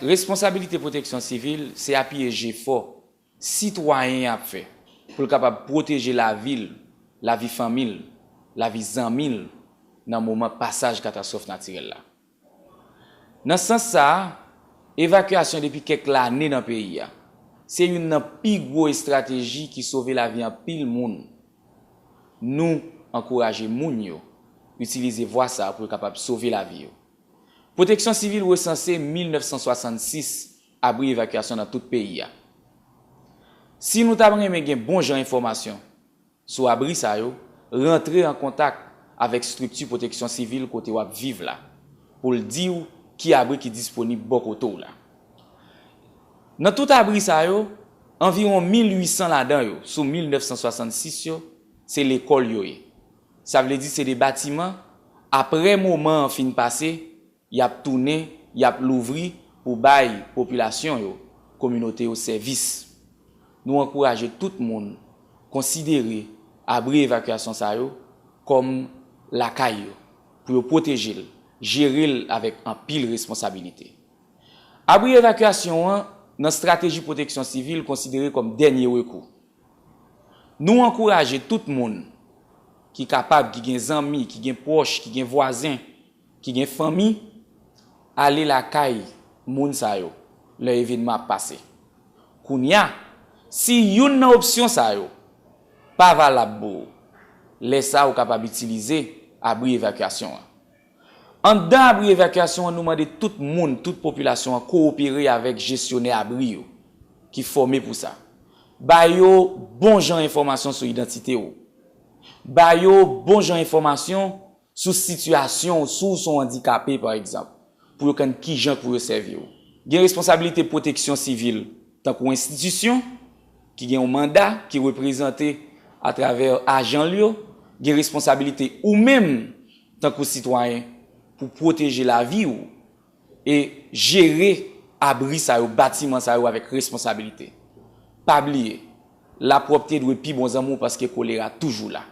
Responsabilite pwoteksyon sivil se apiye jefò sitwayen an ap fè pou l kapab pwoteje lavi l, lavi fanmi l, lavi zanmi l nan moman pasaj katastwòf natirèl la. Nan sans sa, evakyasyon depi kèk lane nan peyi a, se youn nan pi gwo estrateji ki sove lavi anpil moun. Nou ankouraje moun yo itilize vwa sa pou yo kapab sove lavi yo. Pwoteksyon Sivil resanse 1966 abri evakyasyon nan tout peyi a. Si nou ta renmen gen bon jan enfòmasyon, Sou abri sa yo, rantre an kontak avèk strikti pwoteksyon sivil kote w ap viv la pou l di w ki abri ki disponib bò kote w la. Nan tout abri sa yo, anviwon 1,800 ladan yo sou 1,966 yo, se lekòl yo ye. Sa vle di se de batiman, apre moman an fin pase, Y ap tounen, y ap louvri pou bay popilasyon yo, kominote yo sèvis. Nou ankouraje tout moun konsidere abri evakyasyon sa yo kòm lakay yo, pou yo pwoteje l, jere l avèk anpil responsabilite. Abri evakyasyon an nan strateji pwoteksyon sivil konsidere kòm dènye rekou. Nou ankouraje tout moun ki kapab, ki gen zanmi, ki gen pwòch, ki gen vwazen, ki gen fanmi ale lakay moun sa yo lè evenman ap pase. Kounye a, si youn nan opsyon sa yo pa valab pou ou, lè sa a ou kapab itilize abri evakyasyon an. Anndan abri evakyasyon an nou mande tout moun, tout popilasyon an kowopere avèk jesyonè abri yo ki fòme pou sa. Ba yo bon jan enfòmasyon sou idantite ou. Ba yo bon jan enfòmasyon Sou sitiyasyon ou si w se yon andikape pa egzanp, pou yo kenn kijan pou yo sèvi w. Gen responsabilite pwoteksyon sivil tankou enstitisyon ki gen yon manda ki reprezante atravè ajan l yo gen responsabilite ou menm tankou sitwayen pou pwoteje lavi w e jere abri sa yo, batiman sa yo avèk responsabilite. Pa bliye, lapwòpte dwe pi bon zanmi w paske kolera toujou la.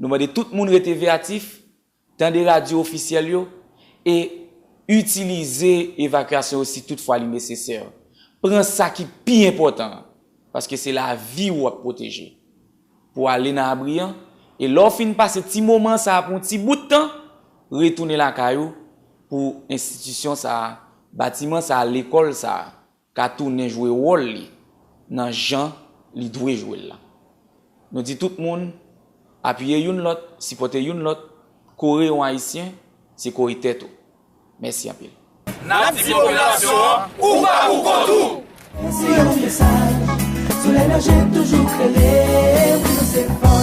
Nou mande tout moun rete veyatif, tande radyo ofisyèl yo e itilize evakyasyon yo si tout fwa li nesesè. Pran sa ki pi enpòtan an, paske se lavi ou w ap pwoteje, pou w ale nan abri an, e lè w fin pase ti moman sa a pou yon ti bout tan, retounen lakay ou pou enstitisyon sa a, batiman sa a, lekòl sa a. ka tounen jwe wòl li nan jan li dwe jwe l la. Nou di tout moun, apiye youn lòt, sipòte youn lòt, kore yon Ayisyen, se kore tèt ou. Mèsi anpil. Nap di popilasyon an ou pa pou kont ou! Lanse yon mesaj, solèy nan je toujou klere, wi nou se fòs.